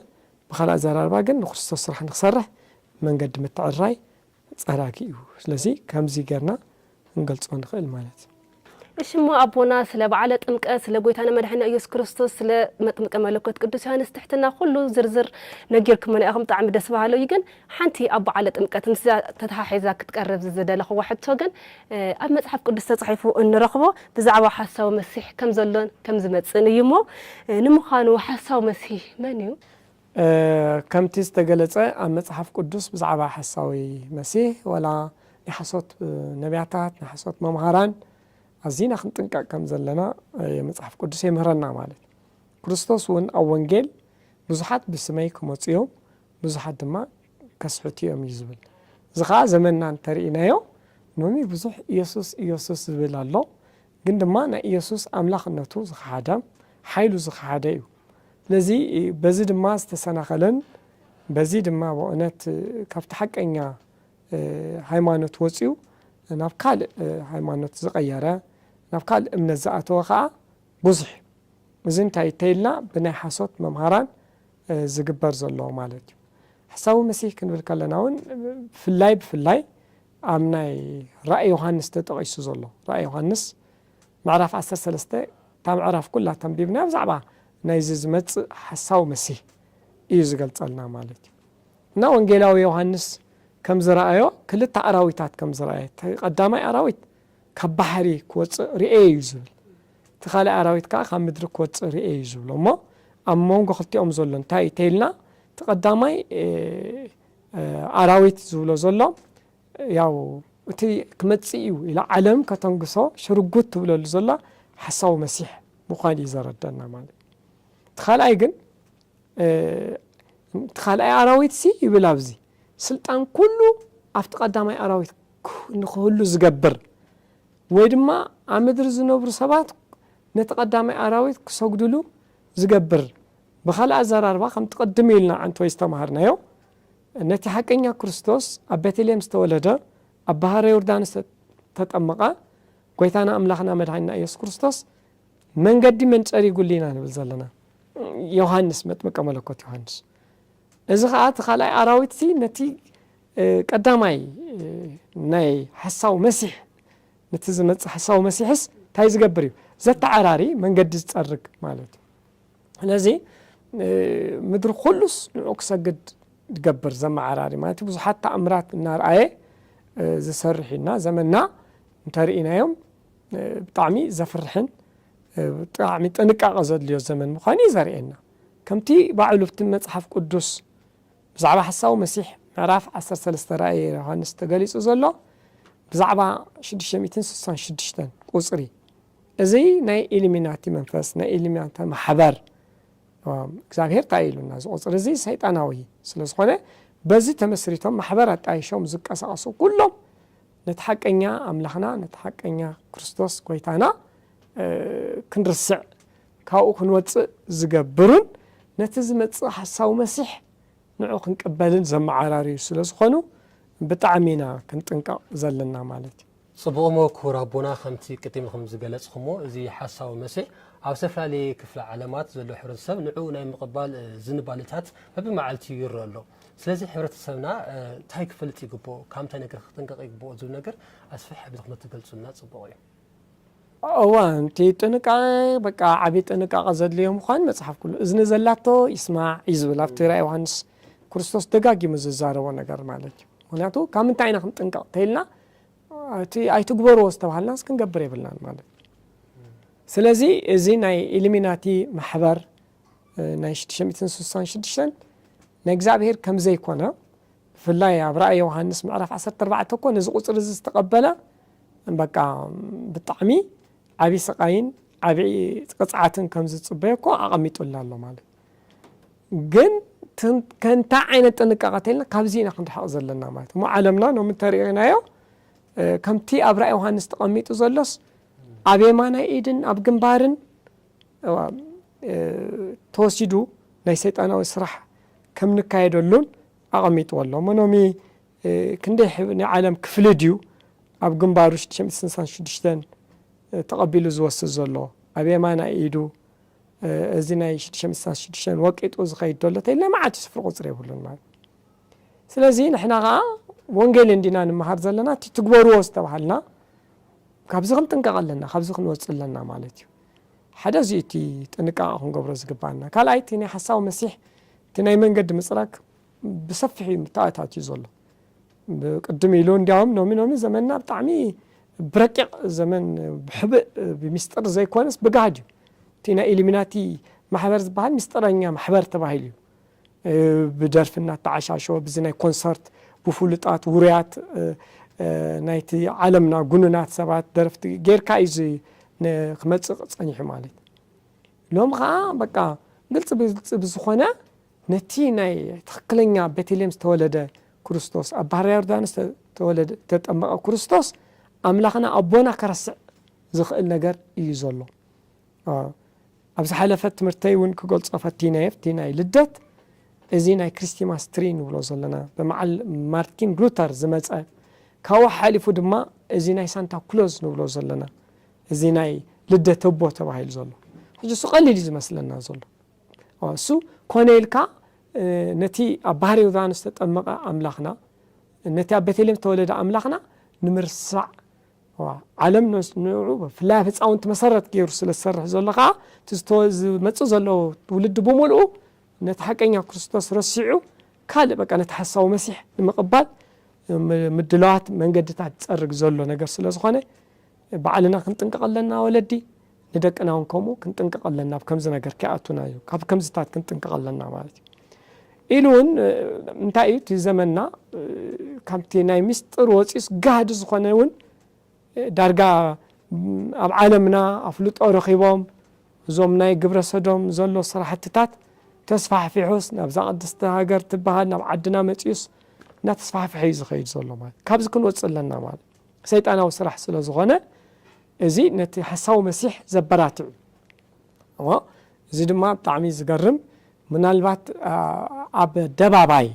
ብካልእ ኣዘራርባ ግን ንክርስቶስ ስራሕ ንክሰርሕ መንገዲ ምትዕርራይ ጸራጊ እዩ ስለዚ ከምዚ ገርና ክንገልጾ ንክእል ማለት። እሺ እሞ ኣቦና ስለ በዓለ ጥምቀት ስለ ጎይታና መድሓኒና ኢየሱስ ክርስቶስ ስለ መጥምቀ መለኮት ቅዱስ ዮሃንስ ትሕትና ኩሉ ዝርዝር ነጊርኩምና ኢኹም ብጣዕሚ ደስ በሃሊ እዩ ግን ሓንቲ ኣብ በዓለ ጥምቀት ምስዛ ተተሓሒዛ ክትቀርብ ዝደለኹዋ ሕቶ ግን ኣብ መጽሓፍ ቅዱስ ተጻሒፉ እንረኽቦ ብዛዕባ ሓሳዊ መሲሕ ከም ዘሎን ከም ዝመጽእን እዩ እሞ ንምዃኑ ሓሳዊ መሲህ መን እዩ? ከምቲ ዝተገለጸ ኣብ መጽሓፍ ቅዱስ ብዛዕባ ሓሳዊ መሲህ ዋላ ናይ ሓሶት ነብያታት ናይ ሓሶት መምሃራን ኣዚና ክንጥንቀቅ ከም ዘለና መጽሓፍ ቅዱስ የምህረና ማለት ክርስቶስ እውን ኣብ ወንጌል ብዙሓት ብስመይ ክመጹ እዮም ብዙሓት ድማ ከስሕቱ እዮም እዩ ዝብል እዚ ከዓ ዘመንና እንተርኢናዮ ሎሚ ብዙሕ ኢየሱስ ኢየሱስ ዝብል ኣሎ ግን ድማ ናይ ኢየሱስ ኣምላኽነቱ ዝኸሓደ፣ ሓይሉ ዝኸሓደ እዩ። ስለዚ በዚ ድማ ዝተሰናኸለን በዚ ድማ በእውነት ካብቲ ሓቀኛ ሃይማኖት ወጺኡ ናብ ካልእ ሃይማኖት ዝቐየረ ናብ ካልእ እምነት ዝኣተወ ከኣ ብዙሕ እዩ። እዚ እንታይ እዩ ተይልና ብናይ ሓሶት መምሃራን ዝግበር ዘሎ ማለት እዩ። ሓሳዊ መሲህ ክንብል ከለና እውን ብፍላይ ብፍላይ ኣብ ናይ ራእይ ዮሃንስ ተጠቒሱ ዘሎ ራእይ ዮሃንስ ምዕራፍ ዓሰርተ ሰለስተ እታ ምዕራፍ ኩላ ተንቢብና ብዛዕባ ናይዚ ዝመጽእ ሓሳዊ መሲህ እዩ ዝገልጸልና ማለት እዩ እና ወንጌላዊ ዮሃንስ ከም ዝረኣዮ ክልተ ኣራዊታት ከም ዝረኣየ እቲ ቀዳማይ ኣራዊት ካብ ባሕሪ ክወጽእ ርኤ እዩ ዝብል እቲ ካልእ ኣራዊት ከዓ ካብ ምድሪ ክወጽእ ርኤ እዩ ዝብሎ እሞ ኣብ መንጎ ክልቲኦም ዘሎ እንታይ እዩ ተይልና እቲ ቀዳማይ ኣራዊት ዝብሎ ዘሎ ያው እቲ ክመጽእ እዩ ኢላ ዓለም ከተንግሶ ሽርጉት ትብለሉ ዘላ ሓሳዊ መሲሕ ምዃን እዩ ዘረደና ማለት እቲ ካልኣይ ግን እቲ ካልኣይ ኣራዊት ሲ ይብል ኣብዚ ስልጣን ኩሉ ኣብቲ ቀዳማይ ኣራዊት ንክህሉ ዝገብር ወይ ድማ ኣብ ምድሪ ዝነብሩ ሰባት ነቲ ቀዳማይ ኣራዊት ክሰግድሉ ዝገብር ብኻልእ ኣዘራርባ ከምቲ ቅድም ኢልና ኣንትወይ ዝተማሃርናዮ ነቲ ሓቀኛ ክርስቶስ ኣብ ቤተልሔም ዝተወለደ ኣብ ባሃረ ዮርዳኖስ ዝተጠመቐ ጎይታና ኣምላኽና መድሓኒና ኢየሱስ ክርስቶስ መንገዲ መን ጸሪጉሊ ኢና ንብል ዘለና ዮሃንስ መጥምቀ መለኮት ዮሃንስ እዚ ኸኣ እቲ ካልኣይ ኣራዊትሲ ነቲ ቀዳማይ ናይ ሓሳዊ መሲሕ ነቲ ዝመጽእ ሓሳዊ መሲሕስ እንታይ ዝገብር እዩ ዘተዓራሪ መንገዲ ዝጸርግ ማለት እዩ ስለዚ ምድሪ ኩሉስ ንዑ ክሰግድ ድገብር ዘመዓራሪ ማለት ብዙሓት ተኣምራት እናርኣየ ዝሰርሕ እዩና ዘመና እንተርእናዮም ብጣዕሚ ዘፍርሕን ብጣዕሚ ጥንቃቐ ዘድልዮ ዘመን ምዃኑ እዩ ዘርእየና ከምቲ ባዕሉ ብቲ መፅሓፍ ቅዱስ ብዛዕባ ሓሳዊ መሲሕ ምዕራፍ 13 ራእየ ዮሃንስ ተገሊጹ ዘሎ ብዛዕባ 666 ቁጽሪ እዚ ናይ ኢሉሚናቲ መንፈስ ናይ ኢሉሚናቲ ማሕበር እግዚኣብሄር ታይ ኢሉና እዚ ቁፅሪ እዚ ሰይጣናዊ ስለዝኾነ በዚ ተመስሪቶም ማሕበር ኣጣይሾም ዝቀሳቀሱ ኩሎም ነቲ ሓቀኛ ኣምላኽና ነቲ ሓቀኛ ክርስቶስ ጎይታና ክንርስዕ ካብኡ ክንወፅእ ዝገብሩን ነቲ ዝመፅእ ሓሳዊ መሲሕ ንዑ ክንቅበልን ዘመዓራርዩ ስለ ዝኾኑ ብጣዕሚ ኢና ክንጥንቀቕ ዘለና ማለት እዩ። ጽቡቕሞ ክቡር ኣቦና ከምቲ ቅዲምኹም ዝገለጽኹሞ እዚ ሓሳዊ መሰ ኣብ ዝተፈላለየ ክፍለ ዓለማት ዘሎ ሕብረተሰብ ንዑኡ ናይ ምቕባል ዝንባልታት በብመዓልቲዩ ይረእ ኣሎ ስለዚ ሕብረተሰብና ታይ ክፈልጥ ይግብኦ ካብ ምንታይ ነገር ክጥንቀቕ ይግብኦ ዝብል ነገር ኣስፍሕ ኣቢልኩም ተትገልጹልና ጽቡቕ እዩ። እወ እቲ ጥንቃቐ በቃ ዓቢ ጥንቃቐ ዘድልዮ ምዃን መጽሓፍ ኩሉ እዝኒ ዘላቶ ይስማዕ እዩ ዝብል ኣብቲ ራእይ ዮሃንስ ክርስቶስ ደጋጊሙ ዝዛረቦ ነገር ማለት እዩ ምክንያቱ ካብ ምንታይ ኢና ክንጥንቀቕ ተኢልና እቲ ኣይትግበርዎ ዝተባሃልናስ ክንገብር የብልናን ማለት እዩ ስለዚ እዚ ናይ ኢሉሚናቲ ማሕበር ናይ 666 ናይ እግዚኣብሄር ከም ዘይኮነ ብፍላይ ኣብ ራእይ ዮውሃንስ ምዕራፍ ዓሰርተ ኣርባዕተ እኮ ነዚ ቁጽሪ እዚ ዝተቀበለ በቃ ብጣዕሚ ዓቢ ስቃይን ዓቢ ቅጽዓትን ከም ዝጽበዮ እኮ ኣቀሚጡልና ኣሎ ማለት ግን ከንታይ ዓይነት ጥንቃቐ ተልና ካብዚ ኢና ክንርሕቕ ዘለና ማለት እሞ ዓለምና ሎሚ እንተርእናዮ ከምቲ ኣብ ራእይ ዮሃንስ ተቐሚጡ ዘሎስ ኣብ የማናይ ኢድን ኣብ ግንባርን ተወሲዱ ናይ ሰይጣናዊ ስራሕ ከም ንካየደሉን ኣቐሚጥዎ ኣሎ። መኖሚ ክንደይ ናይ ዓለም ክፍሊ ድዩ ኣብ ግንባሩ ሽዱሽተ ሚእቲ ስልሳን ሽዱሽተን ተቐቢሉ ዝወስድ ዘሎ ኣብ የማናይ ኢዱ እዚ ናይ ሽዱሽተ ሚእቲ ስልሳን ሽዱሽተን ወቂጡ ዝኸይድ ዘሎ ተይልና መዓልቲ ስፍሪ ቁፅሪ የብሉን ማለት ስለዚ ንሕና ከኣ ወንጌል እንዲና ንመሃር ዘለና እቲ ትግበርዎ ዝተባሃልና ካብዚ ክንጥንቀቕ ኣለና ካብዚ ክንወጽእ ኣለና ማለት እዩ ሓደ እዚ እቲ ጥንቃቐ ክንገብሮ ዝግባኣና ካልኣይ እቲ ናይ ሓሳዊ መሲሕ እቲ ናይ መንገዲ ምጽራግ ብሰፊሕ እዩ ተኣታትዩ ዘሎ ቅድም ኢሉ እንዲያውም ሎሚ ሎሚ ዘመንና ብጣዕሚ ብረቂቕ ዘመን ብሕብእ ብሚስጥር ዘይኮነስ ብጋህድ እዩ እቲ ናይ ኢሉሚናቲ ማሕበር ዝበሃል ምስጢረኛ ማሕበር ተባሂሉ እዩ ብደርፊ እናተዓሻሸወ ብዚ ናይ ኮንሰርት ብፍሉጣት ውሩያት ናይቲ ዓለምና ጉኑናት ሰባት ደረፍቲ ጌርካ እዩ እዚ ክመፅእ ፀኒሑ ማለት እዩ ሎም ከዓ በቃ ግልፂ ብግልፂ ብዝኾነ ነቲ ናይ ትኽክለኛ ቤተልሔም ዝተወለደ ክርስቶስ ኣብ ባህርያ ዮርዳኖስ ተወለደ ተጠመቐ ክርስቶስ ኣምላኽና ኣቦና ከረስዕ ዝኽእል ነገር እዩ ዘሎ ኣብ ዝሓለፈ ትምህርተይ ውን ክገልጾ ፈቲነ'የ፣ እቲ ናይ ልደት እዚ ናይ ክሪስቲማስ ትሪ ንብሎ ዘለና ብመዓል ማርቲን ሉተር ዝመጸ፣ ካብኡ ሓሓሊፉ ድማ እዚ ናይ ሳንታ ክሎዝ ንብሎ ዘለና እዚ ናይ ልደት ኣቦ ተባሂሉ ዘሎ ሕጂ እሱ ቀሊል እዩ ዝመስለና ዘሎ እሱ ኮነ ኢልካ ነቲ ኣብ ባህሪ ዮርዳኖስ ዝተጠመቐ ኣምላኽና ነቲ ኣብ ቤተልሔም ዝተወለደ ኣምላኽና ንምርሳዕ ዓለም ንዑዑ ብፍላይ ኣብ ህፃውንቲ መሰረት ገይሩ ስለ ዝሰርሕ ዘሎ ከዓ እቲ ዝተ- ዝመፅእ ዘሎ ትውልዲ ብምልኡ ነቲ ሓቀኛ ክርስቶስ ረሲዑ ካልእ በቃ ነቲ ሓሳዊ መሲሕ ንምቕባል ም- ምድላዋት መንገድታት ዝፀርግ ዘሎ ነገር ስለ ዝኾነ ባዕልና ክንጥንቀቕ ኣለና ወለዲ ንደቅና ውን ከምኡ ክንጥንቀቕ ኣለና ኣብ ከምዚ ነገር ከይኣቱና እዩ ካብ ከምዚታት ክንጥንቀቕ ኣለና ማለት እዩ ኢሉ ውን እንታይ እዩ እቲ ዘመንና ካብቲ ናይ ምስጢር ወፂኡስ ጋህዲ ዝኾነ ውን ዳርጋ ኣብ ዓለምና ኣፍልጦ ረኺቦም እዞም ናይ ግብረ ሰዶም ዘሎ ስራሕትታት ተስፋሕፊሑስ ናብዛ ቅድስቲ ሃገር ትበሃል ናብ ዓድና መፂኡስ እናተስፋሕፍሐ እዩ ዝኸይድ ዘሎ ማለት ካብዚ ክንወፅእ ኣለና ማለት ሰይጣናዊ ስራሕ ስለ ዝኾነ እዚ ነቲ ሓሳዊ መሲሕ ዘበራትዕ እዩ እሞ እዚ ድማ ብጣዕሚ ዝገርም ምናልባት ኣብ ኣደባባይ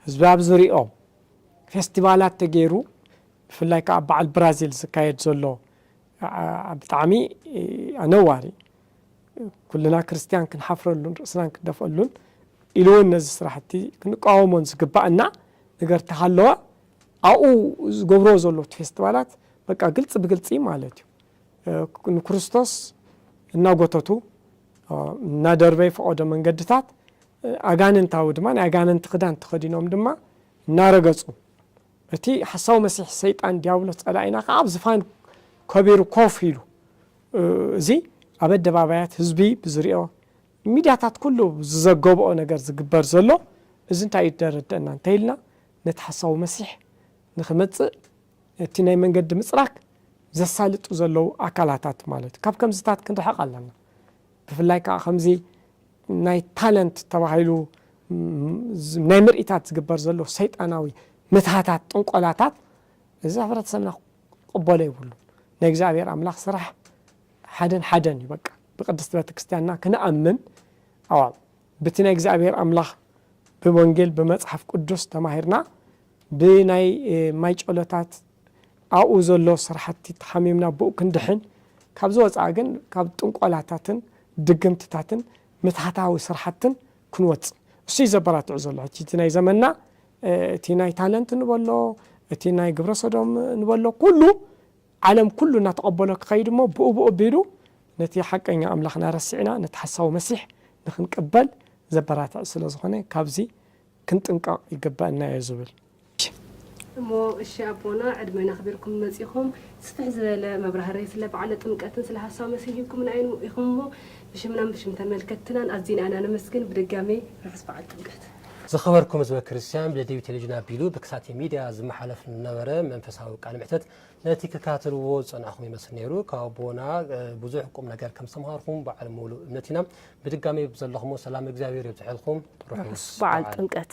ህዝቢ ኣብ ዝሪኦ ፌስቲቫላት ተገይሩ ብፍላይ ከዓ ኣብ በዓል ብራዚል ዝካየድ ዘሎ ብጣዕሚ ኣነዋሪ ኩልና ክርስትያን ክንሓፍረሉን ርእስናን ክንደፍኣሉን ኢሉ እውን ነዚ ስራሕቲ ክንቃወሞን ዝግባእና ነገር ተሃለወ ኣብኡ ዝገብርዎ ዘለዉ እቲ ፌስቲቫላት በቃ ግልፂ ብግልፂ ማለት እዩ ንክርስቶስ እናጎተቱ እናደርበዩ ፈቐዶ መንገድታት ኣጋንንታዊ ድማ ናይ ኣጋንንቲ ክዳን ተኸዲኖም ድማ እናረገፁ እቲ ሓሳዊ መሲሕ ሰይጣን ዲያብሎስ ጸላኢና ከዓ ኣብ ዝፋን ከቢሩ ኮፍ ኢሉ እዚ ኣብ ኣደባባያት ህዝቢ ብዝሪኦ ሚድያታት ኩሉ ዝዘገብኦ ነገር ዝግበር ዘሎ እዚ እንታይ እዩ ደረደአና እንተኢልና ነቲ ሓሳዊ መሲሕ ንኽመጽእ እቲ ናይ መንገዲ ምጽራግ ዘሳልጡ ዘለዉ ኣካላታት ማለት እዩ። ካብ ከምዚታት ክንርሕቕ ኣለና። ብፍላይ ከኣ ከምዚ ናይ ታለንት ተባሂሉ ናይ ምርኢታት ዝግበር ዘሎ ሰይጣናዊ ምትሃታት ጥንቆላታት እዚ ሕብረተሰብና ክቕበሎ የብሉን። ናይ እግዚኣብሔር ኣምላኽ ስራሕ ሓደን ሓደን እዩ በቃ ብቅድስቲ ቤተክርስቲያንና ክንኣምን ኣዋብ ብቲ ናይ እግዚኣብሔር ኣምላኽ ብወንጌል ብመጽሓፍ ቅዱስ ተማሂርና ብናይ ማይ ጨሎታት ኣብኡ ዘሎ ስራሕቲ ተሓሚምና ብኡ ክንድሕን ካብዚ ወጻኢ ግን ካብ ጥንቆላታትን ድግምትታትን ምትሃታዊ ስራሕትን ክንወጽእ እሱ እዩ ዘበራትዑ ዘሎ ሕጂ እቲ ናይ ዘመንና እቲ ናይ ታለንት ንበሎ እቲ ናይ ግብረ ሰዶም ንበሎ ኩሉ ዓለም ኩሉ እናተቐበሎ ክኸይድ እሞ ብኡብኡ ኣቢሉ ነቲ ሓቀኛ ኣምላኽና ረሲዕና ነቲ ሓሳዊ መሲሕ ንኽንቅበል ዘበራትዕ ስለ ዝኾነ ካብዚ ክንጥንቀቕ ይግበእና እዮ ዝብል። እሞ እሺ ኣቦና ዕድመን ኣኽቢርኩም መጺኹም ስፍሕ ዝበለ መብራህርሂ ስለ በዓለ ጥምቀትን ስለ ሓሳዊ መሲሕን ሂብኩምና ኢኹም እሞ ብሽምናን ብሽም ተመልከትትናን ኣዚና ኢና ነመስግን ብድጋሜ ርሑስ በዓል ጥምቀት። ዝኸበርኩም ህዝበ ክርስቲያን ብደደቢት ቴሌቪዥን ኣቢሉ ብክሳቴ ሚድያ ዝመሓለፍ ንነበረ መንፈሳዊ ቃለ መሕተት ነቲ ክካትልዎ ዝጸናሕኹም ይመስል ነይሩ ካብ ኣቦና ብዙሕ ቁም ነገር ከም ዝተምሃርኩም በዓል ሙሉእ እምነት ኢና ብድጋሚ ብዘለኹሞ ሰላም እግዚኣብሔር የብዝሐልኩም ርሑስ በዓል ጥምቀት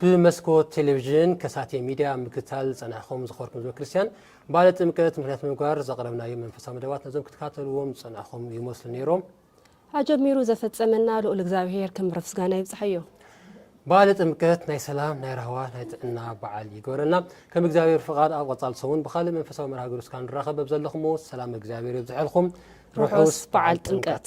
ብመስኮት ቴሌቪዥን ከሳቴ ሚድያ ምክትታል ዝፀናሕኹም ዝኸበርኩም ህዝበ ክርስትያን በዓለ ጥምቀት ምክንያት ምግባር ዘቕረብናዮም መንፈሳዊ መደባት ነዞም ክትከታተልዎም ዝፀናሕኹም ይመስሉ ነይሮም። ኣጀሚሩ ዘፈፀመና ልኡል እግዚኣብሄር ክብሪ ምስጋና ይብፅሐዮ። በዓለ ጥምቀት ናይ ሰላም፣ ናይ ራህዋ፣ ናይ ጥዕና በዓል ይግበረልና። ከም እግዚኣብሄር ፍቓድ ኣብ ቐፃሊ ሰሙን ብኻልእ መንፈሳዊ መርሃ ግብሪ እስካ ንራኸብ በብዘለኹምዎ ሰላም እግዚኣብሄር የብዝሐልኹም። ርሑስ በዓል ጥምቀት።